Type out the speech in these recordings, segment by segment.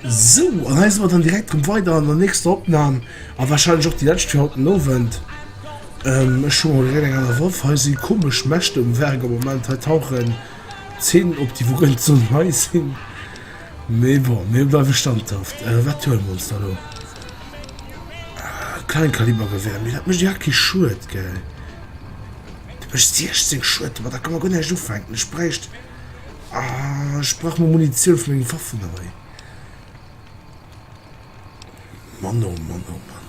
So an eis mat an direkt rum weider an der nächster Opnam a wahrscheinlich och die letzte fir haut Nowend. Ähm, ech schon ré eng aner Waff he si komesch Mächte um Werk am Moment he tauchen Zeen op déi wouent soll hei sinn. Mee bon, mir bleiwe standhaft. Wat huele mer ons da elo? Kleinkalibergewehr. Mee dat mécht jo kee Schued, gell? Dat mécht 16 Schued. Domadder ka mer guer näischt ufänken. Ech bräicht. Ech brauch mol Munitioun fir meng Waffen hei. Mann, oh Mann, oh Mann.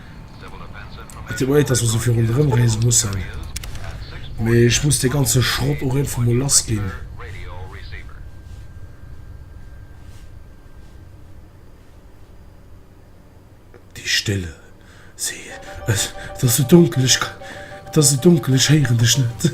Et deet mer leed, dass mer esou vill ronderëm reese mussen, mee ech muss dee ganze Schrott och iergendwou mol lass ginn. Déi Stille. Si. Et ass esou donkel, ech. Et ass esou donkel, ech héieren dech net.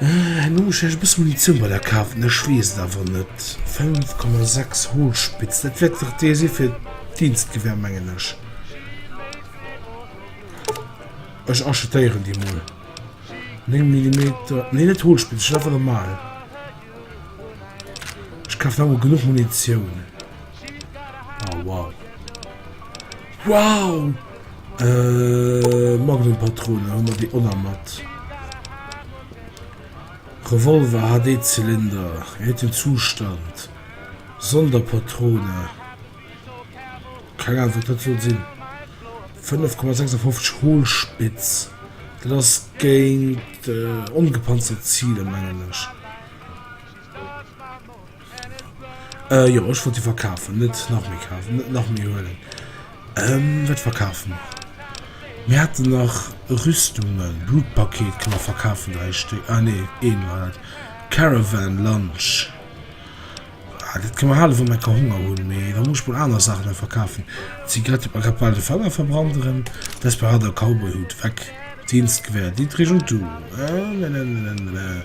Herno hunn ech lech e bësse Munitioun bei der Kaf an ech weess et awer net. 5,6 Holzspitz, dat wäert dach dee si fir d'Dienstgewehr, mengen ech. Ech achetéieren déi mol. 9 Millimeter, nee net Holzspitz, ech hunn awer normal. Ech kafen awer genuch Munitioun. Oh, wow. Wow! Äh, Magnum-Patrone, hu mer déi oner mat. Revolver, HD-Zylinder, wéi huet den Zustand? Sonderpatrone. Keng Ahnung, wat dat soll sinn. 5,56 Hohlspitz. Dat ass géint äh, ongepanzert Ziler, mengen ech. Äh jo ech wollt se verkafen, net nach méi kafen, net nach méi huelen. Ehm wat verkafen? Mir haten nach Rüstungen, Blutpaket kann mer verkafen 3 Stéck, ah nee een war dat. Caravan Lunch, ah dat kann mer halen wann mer ka Honger hunn, mee da muss ech mol aner Saachen nach verkafen. Zigarette, mer grad bal de Fanger verbranderen. Desperader Cowboyhut, weg. Dienstgewehr, Dietrich und du, äh ne ne ne ne ne.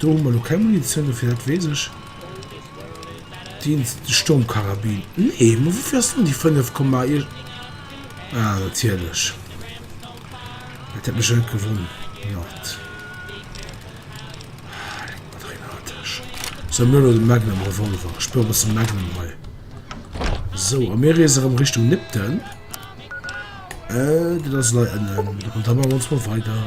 Do hu mer lo keng Munitioun dofir, dat weess ech. Dienst Sturmkarabin. Nee, ma woufir ass dann déi 5 Komma ir... Ah, natierlech. Dat hätt mech jo net gewonnert. Ah, leck mer dran an der Täsch. Sou, mir huele de Magnum Revolver. Ech brauch e bësse Magnum hei. Sou, a mir reese erëm Richtung Nipton. Dat ass lei ënnen. An da maache mer ons mol weider.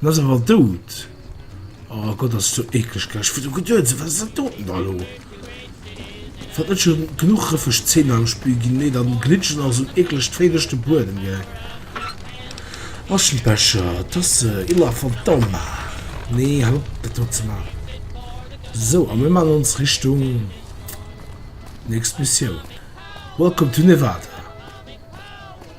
En ass awer dout. Oh Gott ass do ekleg gell, ech wor do geduet wat ass dat doten da lo? Wat net schon genuch rëffeg Zeen am Spill ginn, nee dann glitcht et nach sou eklegt wéi duerch de Buedem gell. Aschenbecher, Tasse, Illa Fantoma, nee hal op dat do ze maachen. Sou a mir man ons Richtung nächst Missioun, Welcome to Nevada.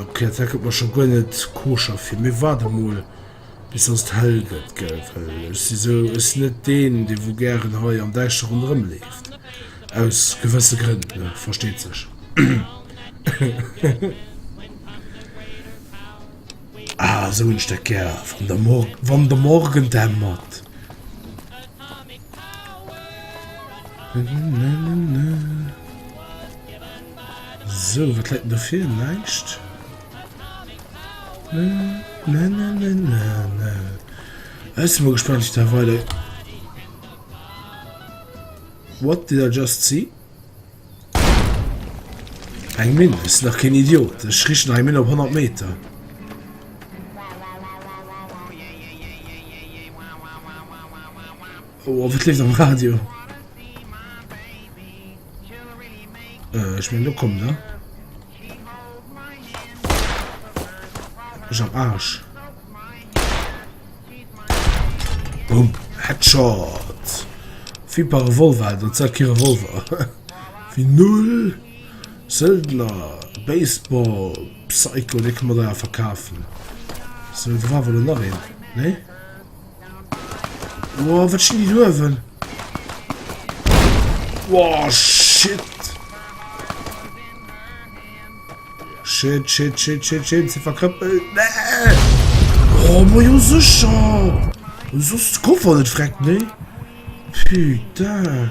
Erklärt, dat gëtt mer scho guer net koscher vir. Mee waart emol bis dass et hell gëtt, gell? Well ech si sou, ech sinn net deen, dee wou gären hei am Däischteren erëmleeft. Aus gewësse Grënn, ne? Versteet sech. Ah, esou hunn ech dat gär, wann de Mor-, wann de Morgen dämmert. Sou, wat läit denn do vir? Näischt. Na, na, na, na, na, na. Ech si mol gespannt, wéi dat weider. What did I just see? Eng Minn, ech sinn dach keen Idiot. Ech riichten nach eng Minn op 100 Meter. Oh, a wat leeft am Radio? Äh, ich mein, du komm, ne? Ich am Arsch. Boom. Headshot. Wie bei Revolver, das ist kein Revolver. Wie null. Söldner. Baseball. Psycho, den kann man da verkaufen. So, da war wohl noch ein. Ne? Boah, wat stinn déi do ewel? Boah, shit. Shit, shit, shit, shit, shit, se verkrëppelt. Nee! Oh, mo jo sicher! Und sos d'Koffer net freck, ne? Putain!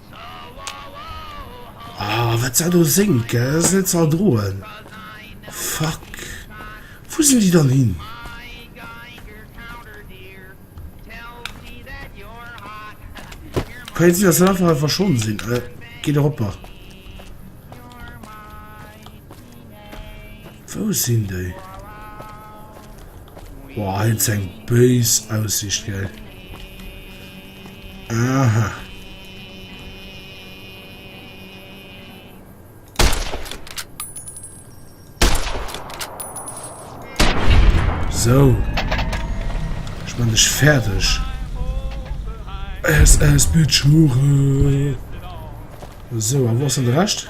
Ah wat sa do séngt gell, dat ass net ze erdroen. Fuck, wou sinn déi dann hin? Kann jo sinn dass se einfach hei verschwonnen sinn. Geet och oppert. Wou sinn déi? Boah, hei huet se eng béis Aussicht, gell? Aha. So. Ich bin nicht fertig. SS Bitch Hure. So, aber was ist denn der Rest?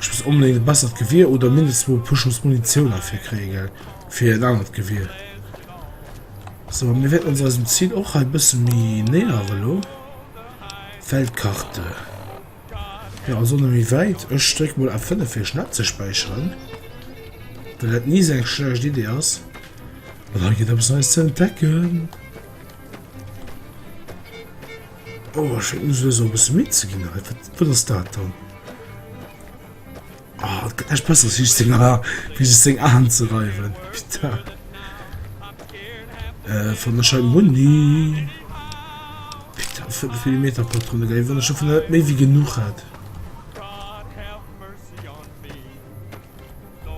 Ech muss onbedéngt e bessert Gewier oder mindestens mol e puer Schooss Munitioun erfir kréie gell, fir en anert Gewier. So mir wäerten ons eisem Zil och hei e bësse méi näheren elo. Weltkarte. Jo also net méi wäit. Ech dréck mol F5 fir schnell abzespäicheren. Well dat ni esou eng schlecht Idee ass. An hei geet eppes Neies ze entdecken. Oh ech schéngt mech elo esou e bësse midd ze ginn hei. Wat wat ass dat dann? Oh et gëtt näischt besseres wéi sech seng Aa wéi sech seng Aen ze reiwen. Putain. Äh wann ech hei Muni. Putain 5 Millimeter Patrone gell, wann ech dovun net méi wéi genuch hätt.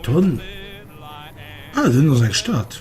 Dann, ah do hënne ass eng Stad.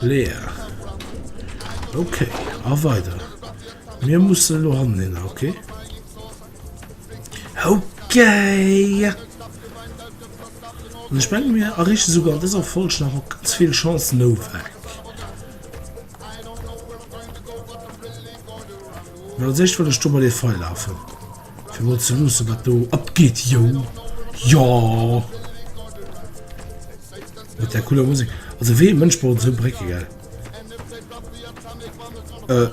Leer. Okay, a weider. Mir musse lo hannen hin, okay? Okay! Und ich meine, mir errichten sogar an dieser Folge noch ganz viel Chance Novak. Weil als erstes will ich da mal den Pfeil laufen. Fir mol ze luussen wat do abgeet jo jo mat der cooler Musik also wéi ee Mënsch brauch esou Brécke gell euh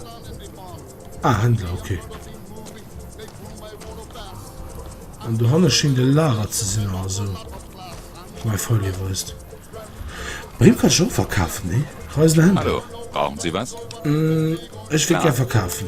ah Händler ok an dohanne schéngt e Lager ze sinn oder esou mei Folie weist bei him kann ech och verkafen nee Reisende Händler hallo brauchen Sie was? ech wéilt gär verkafen.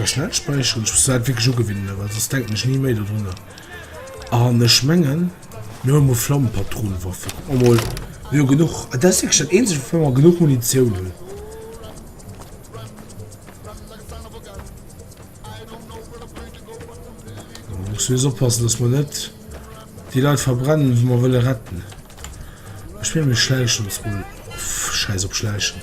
Ech kann net späicheren, ech muss dat wierklech ugewinnen, well soss denken ech ni méi dodrunner. An ech mengen, mir huele mol Flammepatronenwaffen. Kuck mer mol, mir hu genuch. Dat ass wierklech dat eenzegt, woufir mer genuch Munitioun hunn. Mir mussen just oppassen, dass mer net déi Leit verbrennen, déi mer wëlle retten. Ech mengen, mir schläichen ons mol. Schäiss op Schläichen.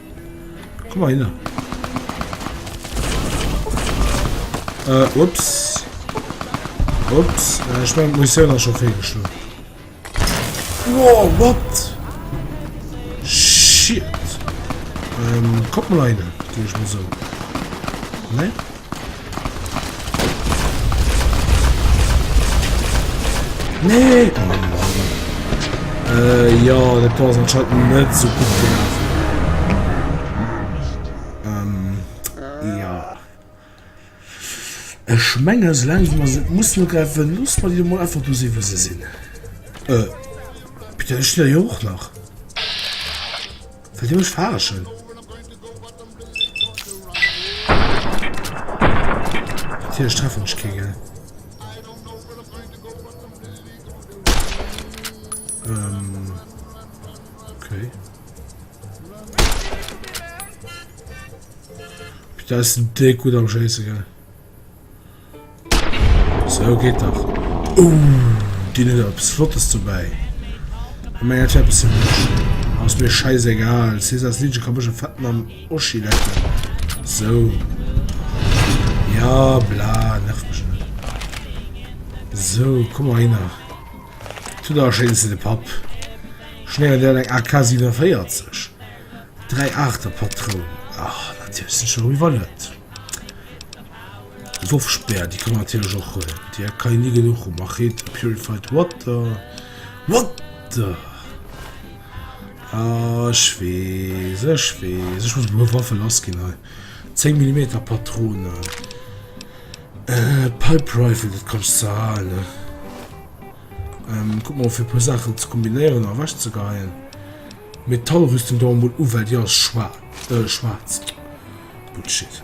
Komm mal hin. Äh, ups. Ups. Äh, ich meine, Munition hat schon fehlgeschlagen. Wow, what? Shit. Ähm, guck mal rein, gehe ich mal so. Ne? Nee! Äh, ja, dat war anscheinend net so gut gelaufen. Ech menge se lang man se muss no gräifen los man Di mo einfach du si se sinn. Äh, Peter, ech jo och nach. Well déi mech verarschen. Natierlech treffen ech kee, gell? Ähm. Okay. Da ist ein Dick gut am Scheiße, gell? Sou geet dach. Ooh, dien huet awer eppes flottes dobäi. An menger Tee eppes fir mech. Ass mir scheißegal. Cesars Liedche ka mech e fetten am Oschi lecken. Sou. Ja, bla, nerv mech net. Sou, komm mer hinner. Tu der e schéines Lidd op Papp. Schnéier dir eng AK 47? Dräi Aachterpatronen? Ach, natierlech, sicher, wie wëll net? D'Loftspär, déi kann een natierlech och huelen, mee déi kann een ni genuch hu Machete, Purified Water, Water! Ah, ech weess, ech weess, ech muss mol Waffe lassginn hei. 10 Millimeter Patronen. Äh, Pipe Rifle, dat kann ech zwar halen, ne? Ähm, kuck mol fir e puer Saachen ze kombinéieren a ewechzegeheien. Metallrüstung dau emol u, well déi ass schwaach, äh, schwaarz. Bullshit.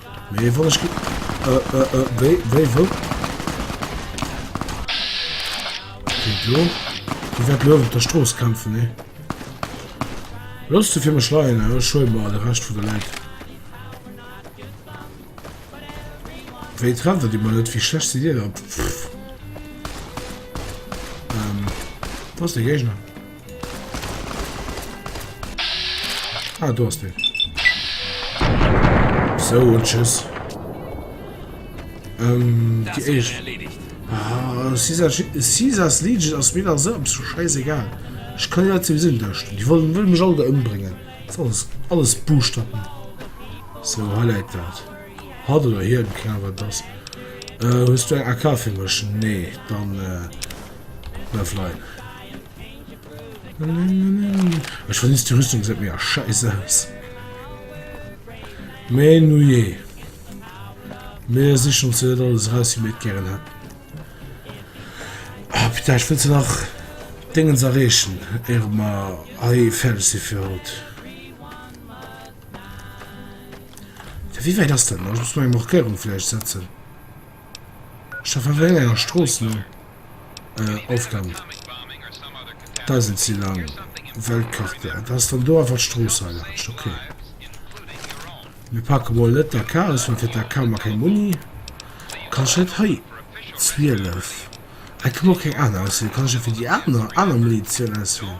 Mee wann ech wéi wëll Video Di wäert luef op der Strooss kämpfen, nee? Looss du fir mech leien, ech huele mer de Rescht vun de Leit. Wéi trefft et ëmmer net? Wéi schlecht sidd Dir da? Pff. Ähm, do ass de Géigner. Ah, du hast den. So, tschüss. Ähm, das die ist erledigt. Ah, Caesar, Caesars Legion aus mir so ab, so scheißegal. Ich kann ja zum Sinn da stehen. Die wollen, wollen mich alle umbringen. Das ist alles, alles Buchstaben. So, highlight das. Hat oder hier im Cover das. Äh, hast du einen AK für mich? Nee, dann, äh, na, vielleicht. Ech verniss die Rüstung seet mir a scheiss aus. Mee nujee. Mir sichen ons net alles raus wie mir et gären hätten. Ah putain ech wëll se nach Déngens erreechen éier mer hei fäerdeg si fir haut. Wéi wäit ass dat nach? Ech muss meng Markéierung vläicht setzen. Ech war eng enger Strooss no of dem Dausend si lang Weltkarte. Et ass dann do einfach d'Strooss hei laanscht. Ok. Mir pake mol net d'AK aus, well fir d'AK hu mer keng Muni. Kann ech net hei 12? Hei ka mer och keng aner auswielen. Kann ech jo fir déi aner aner Munition auswielen?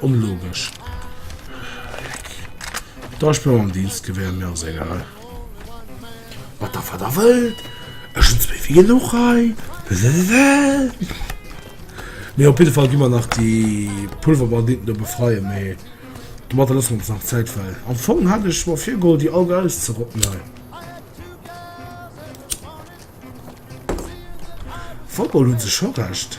Onlogesch. Da ech blo am Dienst gewär, mir ass egal. Mat der wat der wëllt, ech hun zwéi wéi genuch hei. Mee op jiddefall gi mer nach déi Pulverbanditen do befreien, mee domatter loosse mer ons nach Zäit, well am Fong hat ech mer virgeholl déi all guy auszerotten hei. Football hu se scho Recht.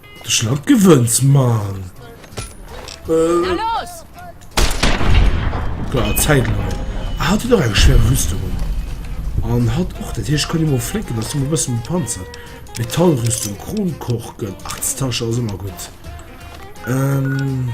De Schlamp gewënnt, Mann. Äh. Klar, Zeit lang. Ah, hat doch eine schwere Rüstung an. Und hat auch das. Ich kann immer flicken, dass du ein bisschen Panzer. Metallrüstung, Kronkorken. Ach, das Tasche ist immer gut. Ähm.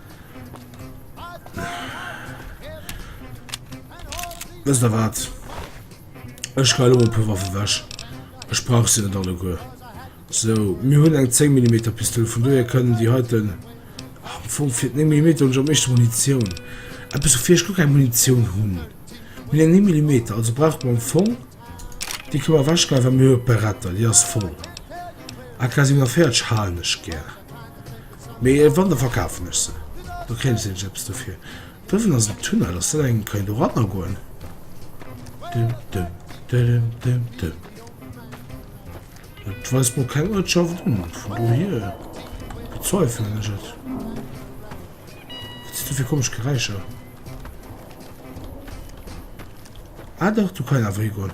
Wësst der wat? Ech geil op e Waffe wäsch. Ech brauch se net alle guer. So mir hunn eng 10 mm Pistol vun doe kënnen die heiten ah, vu fir 9 mm hun am mechte Munition. App so fir gu eng Munition hunn. Min eng 9 mm also brauch man Fong Di kower wäsch ge mir Beretter Di ass voll. A quasi a Pferdsch halen ech gär. Mee wann, da verkafen ech se, da kréien ech nämlech eppes dofir. Dëwwen ass en Tunnel, ass dat eng, kann een doranner goen? Dim dim dirim dim dim. Et weist mer keng Uertschaft un, vun dohier bezweifelen ech et. Wat sinn do fir komesch Geräischer? Ah dach, do kann een awer higoen.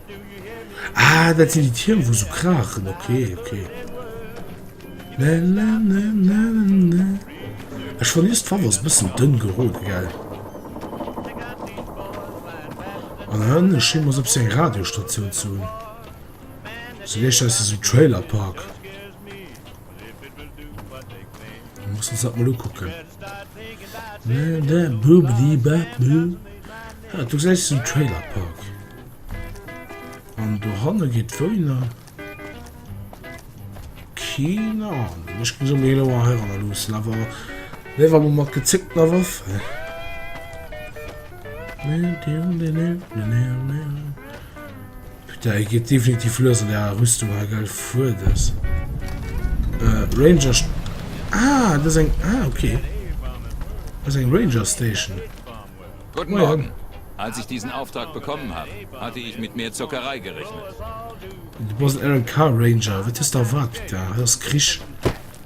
Ah dat sinn déi Tierm wou sou kraachen, ok ok. Ech verlies d'Fav ass bëssen dënn gerode gell. An hënn e Scheem ass op seng Radiostatioun ze hunn. Se leescht aus esem Trailerpark. Muss ons dat mol ukucken. Du gesäis den Trailer Park an dohanne geet d'Wouener. Keen Ahnung, ech muss se mir elo mol heiranner luussen, awer mir war mol mat gezéckter Waffe. Putain hei geet definitiv lues an der Rüstung hei geil fuer dess Ranger ah dess eng ah ok dess eng Ranger Station Guten Morgen Als ich diesen Auftrag bekommen hab hatte ich mit mehr Zockerei gerechnet. Du bass en RNK Ranger, wat hues de erwaart Pita? Hei ass Krich.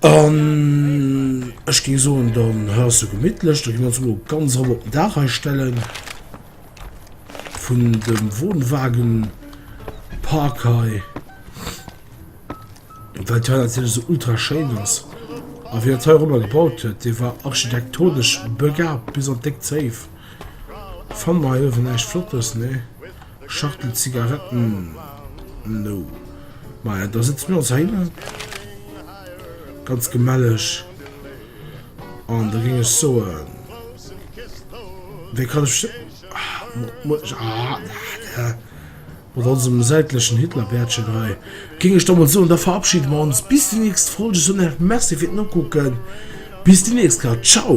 An ech géing soen, dann hei ass jo gemittlech, da gi mir ons elo ganz erop op den Daach hei stellen vun dem Wohnwagenpark hei, well d'hei natierlech esou ultra schéin ass. A wien dat hei erobber gebaut huet, dee war architektonesch begabt bis an d'déck Zéif. Fanne mer hei uewen näischt Flottes, nee. Schachtel Zigaretten no. Maja da sëtze mir ons heinnen ganz gemelleg an da ging ech soen wéi kann ech mat onsem säitlechen Hitlerbärtchen hei ging ech dommel soen da verabschiede mer ons bis déi nächst Folge. Ech soen Iech merci fir d'Nokucken. Bis déi nächst Leit. Ciao.